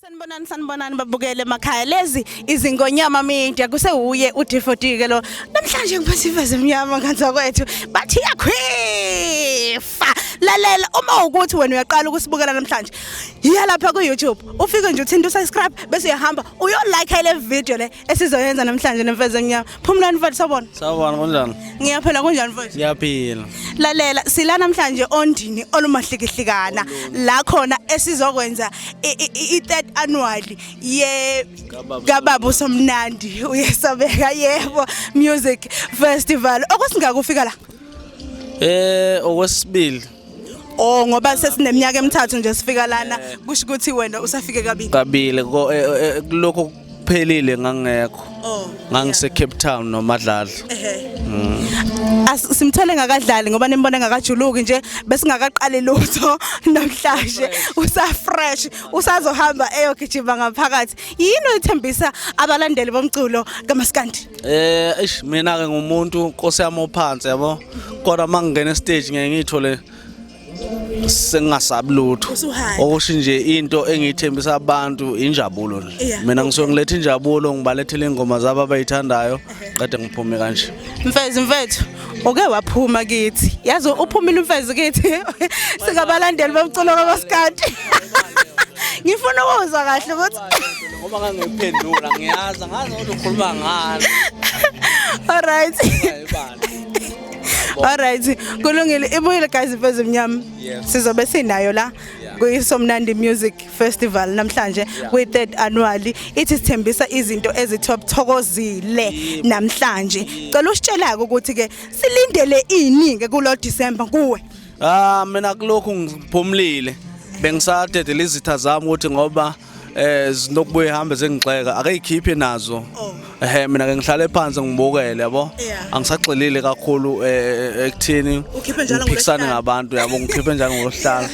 Sanibonani sanibonani babukele emakhaya lezi izingonyama media kusewuye uDifodike lo namhlanje ngiphatha iveze emnyama nganza kwethu bathi yakhifa lalela uma ukuthi wena uyaqala ukusibukela namhlanje yiya lapha ku-youtube ufike nje uthinta usubscribe bese uyahamba uyolike le video le esizoyenza namhlanje nemfezi emnyama phumulani mfowethu sabona Sawubona kunjani? ngiyaphela kunjani mfowethu Ngiyaphila. lalela sila namhlanje ondini olumahlikihlikana la khona esizokwenza i- i- i- i-third annual ye kababa usomnandi uyesabeka yebo music festival okwesingakufika la Eh okwesibili Oh ngoba sesineminyaka emithathu nje sifika lana kusho ukuthi wena usafike kabili. Kabile ko- eh, eh, eh, lokho kuphelile ngangekho. Oh. Ngangise Cape Town noMadlala. As- simthole ngakadlali ngoba nimbone ngakajuluki nje besingakaqali lutho namhlanje usafresh usazohamba eyogijima ngaphakathi yini oyithembisa abalandeli bomculo kamaskandi eh eish mina ke ngumuntu nkosi yami ophansi yabo kodwa mangingena stage ngeke ngithole sengingasabi lutho okusho nje into engiyithembisa abantu injabulo nje mina ngisuke ngiletha injabulo ngibalethele ingoma zabo abayithandayo qede ngiphume kanje mfezi mfethu uke waphuma kithi yazi uphumile umfezi kithi sikabalandeli bomculo kabasikati ngifuna ukuzwa kahle ukuthi ngoba ngangiphendula ngiyazi ngazi ukuthi ukhuluma ngani all right Alright kulungile ibuyile guys imfezi emnyama sizobe sinayo la kuyisomnandi music festival namhlanje kwi third annually ithi sithembisa izinto ezitop thokozile namhlanje cela usitshelake ukuthi ke silindele ini ke kulo December kuwe ah mina kulokhu ngiphumlile bengisadedela izitha zami ukuthi ngoba eh zinokubuye ihambe zengixeka akayikhiphi nazo oh. ehe mina ke ngihlale phansi ngibukele yabo angisagxilile kakhulu eh, eh, ekuthini ukhiphe njalo ngokuphikisana ngabantu yabo ngikhiphe njalo ngosihlalo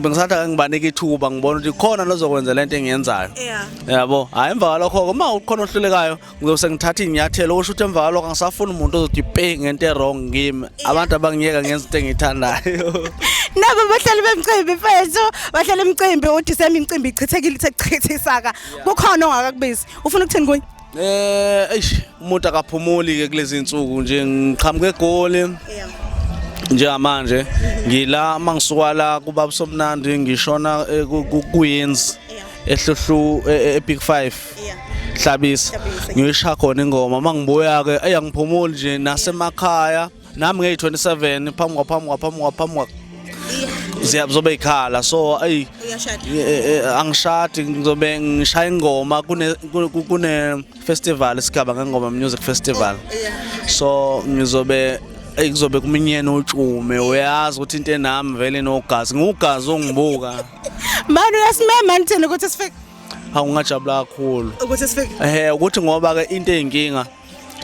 bengisathi ake ngibanike ithuba ngibona ukuthi khona nozokwenza lento engiyenzayo yabo hayi emva kwalokho uma ukhona ohlulekayo ngizose ngithathe inyathelo usho ukuthi emva kwalokho angisafuni umuntu ozothi pe ngento erong ngimi abantu abangiyeka ngenza into engiyithandayo nabo bahlala bemcimbi mfethu bahlala emcimbi uthi sami imcimbi ichithekile sekuchithisaka kukhona ongakakubizi ufuna ukuthini kunye eh eish umuntu akaphumuli ke kulezi insuku nje ngiqhamuke egoli njengamanje ngila mangisuka la kubaba somnandi ngishona eh, kuyenzi ehluhlu eh, eh, epic 5 Yeah. Hlabisa. Hlabisa. Ngiyisha khona ingoma uma ngibuya ke eyangiphumuli nje nasemakhaya nami ngeyi 27 phambi kwa phambi kwa phambi kwa phambi kwa ziyazobe ikhala so ayi Uyashada. eh, eh, angishadi ngizobe ngishaya ingoma kune ku- ku- kune festival isigaba ngengoma music festival Yeah. so ngizobe eyi kuzobe kuminyene utshume uyazi ukuthi into enami vele nogazi ngiwugazi ongibuka Mani uyasimema ngithini ukuthi sifike awungajabula kakhulu ukuthi sifike ehe ukuthi ngoba ke into eyinkinga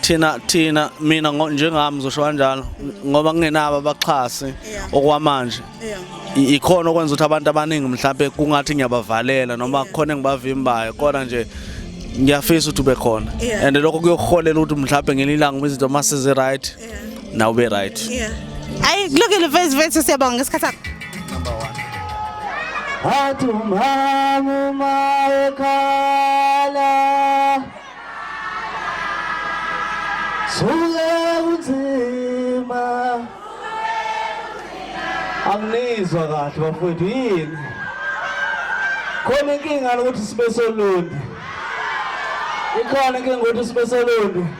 thina thina mina njengami ngizosho kanjalo ngoba kungenabo abaxhasi okwamanje ikhona okwenza ukuthi abantu abaningi mhlawumbe kungathi ngiyabavalela noma khona engibavimbayo kodwa nje ngiyafisa ukuthi ube khona and lokho kuyokuholela ukuthi mhlawumbe ngelinye ilanga izinto uma sizi-right na ube right Yeah. Ayi kulungile mfethu mfethu siyabonga ngesikhathi sakho. Athi umama uma ekhala Suke kunzima Anginizwa kahle bafowethu yini Khona inkinga ukuthi sibe solundi Ikhona inkinga ukuthi sibe solundi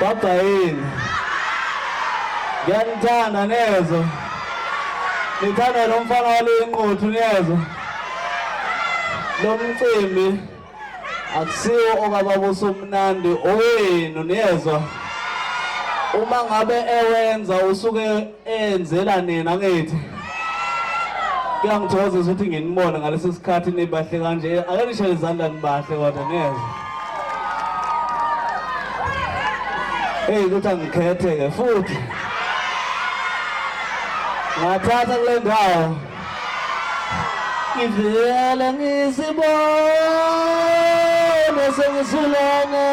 Baba yini? Ngiyanithanda nezwa. Ngithanda lo mfana walenquthu niyezwa. Lo mcimbi akusiwo okababusa umnandi owenu niyezwa. Uma ngabe ewenza usuke enzela nina ngithi kuyangithokoza ukuthi nginibone ngaleso sikhathi nibahle kanje ake nishele izandla nibahle kodwa neze eyi ukuthi angikhethe-ke futhi ngathatha kule ndawo ngivele ngisibone sengisulana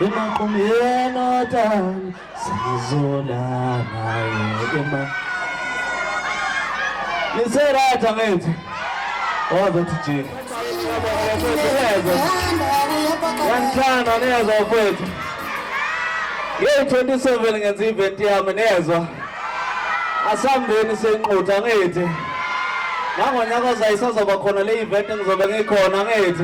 emaqumyeni otani Sizolala naye ema. Nisera thangethi. Ozothi jini. Yanithanda niyazwa kwethu. Ngeyi-27 ngenza i-event yami niyezwa. Asambeni senqutha ngithi. Nangonyaka ozayo isazoba khona le-event engizobe ngikhona ngithi.